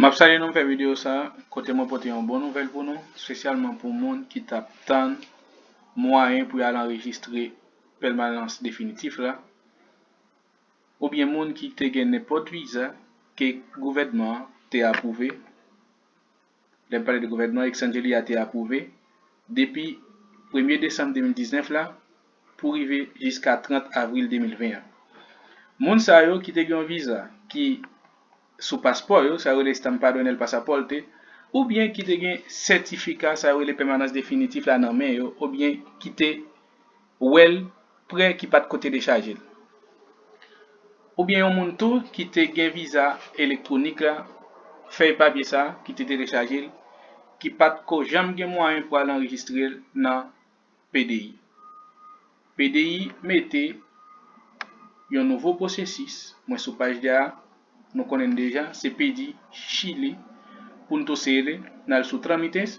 Map salye nou m fè video sa kote mwen pote yon bon nouvèl pou nou spesyalman pou moun ki tap tann mwayen pou yo al anrejistre pèmanans definitif la oubyen moun ki te gen nenpòt viza ke gouvènman an te apwouve. Lè n pale de gouvènman Exsangelli a te apwouve, depi premye desanm 2019 la pou rive jiska 30 avril 2020 an. Moun sa yo ki te gen yon viza ki sou paspò yo, sa yo rele Stampa Donel Passaporte, oubyen ki te gen sètifika sa yo rele pèmanans definitif la nan men yo, obyen ki te. Ou wè l prè ki pa t ko te dechaje l. Oubyen yon moun tou ki te gen viza elektwonik la, fèy papye sa ki te telechaje l, ki pa t ko janm gen mwayen pou al anrejistre l nan PDI. PDI mete yon nouvo pwosesis, mwen sou paj 2 a, nou konnen n deja, se pdi chili pou n tou sele, n al sou tramites.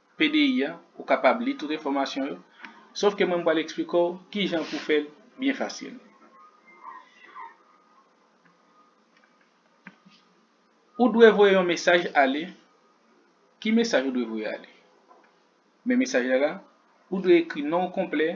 PDI a, ou kapab li tout enfòmasyon yo, sof ke mwen m pral eksplike w kijan pou fè l byen fasil. Ou dwe voye yon mesaj ale, ki mesaj ou dwe voye ale? Men mesaj la la, ou dwe ekri non w konplè,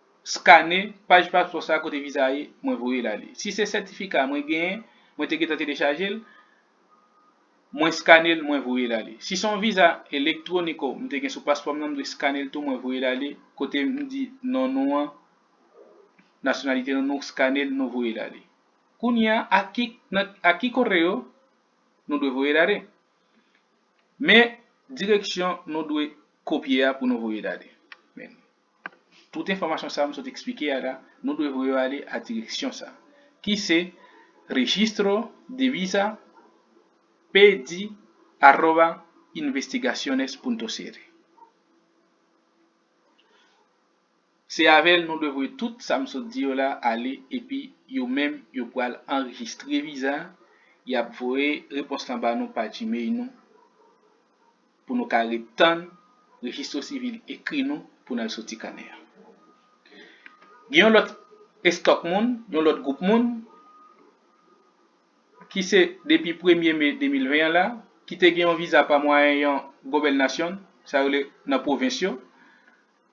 Skane paj paspò sa kote viza a ye mwen voyel ale si se sètifika mwen genyen mwen te gentan telechajel mwen skanel mwen voyel ale si se yon viza elektroniko m te gen sou paspòm nan m dwe skanel tou mwen voyel ale kote m di non nou an nasyonalite nou nou skanel nou voyel ale kounya a ki koreo nou dwe voyel ale men direksyon nou dwe kopye a pou nou voyel ale. Tout enfòmasyon sa a m sot eksplike a la, nou dwe voye yo ale a direksyon sa a, ki se Registro de Visa PD arroba investigaciones punto cr. Se avè l nou dwe voye tout sa m sot di yo la ale epi yo menm yo pral anrejistre viza a, y ap voye repons lan ba nou pa Gmail nou. pou nou ka ret tann Registro Civil ekri nou pou n al soti kanè a. Gen yon lòt estòk moun, yon lòt gwoup moun, ki se depi premye me 2020 an la, ki te gen yon viza pa mwayen yon gobènasyon, sa yo rele nan pwovens yo,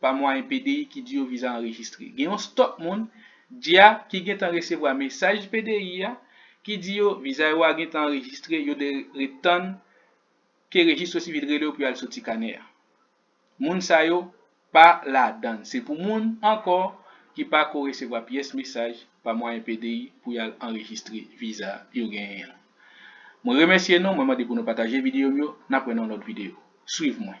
pa mwayen PDI ki di yo viza anrejistre. Gen yon stòk moun, dya, ki gentan resevwa mesaj PDI a ki di yo viza yo a gentan anrejistre, yo dwe ret tann ke rejistro sivil rele yo pou yo al soti kanè a. Moun sa yo pa ladan l. Se pou moun ankò ki pa ko resevwa pyès mesaj pa mwayen PDI pou y al anrejistre viza yo genyen an. Mwen remèsye nou, mwen mande pou nou pataje videyo m yo. N ap wè nan yon lòt videyo. Swiv mwen.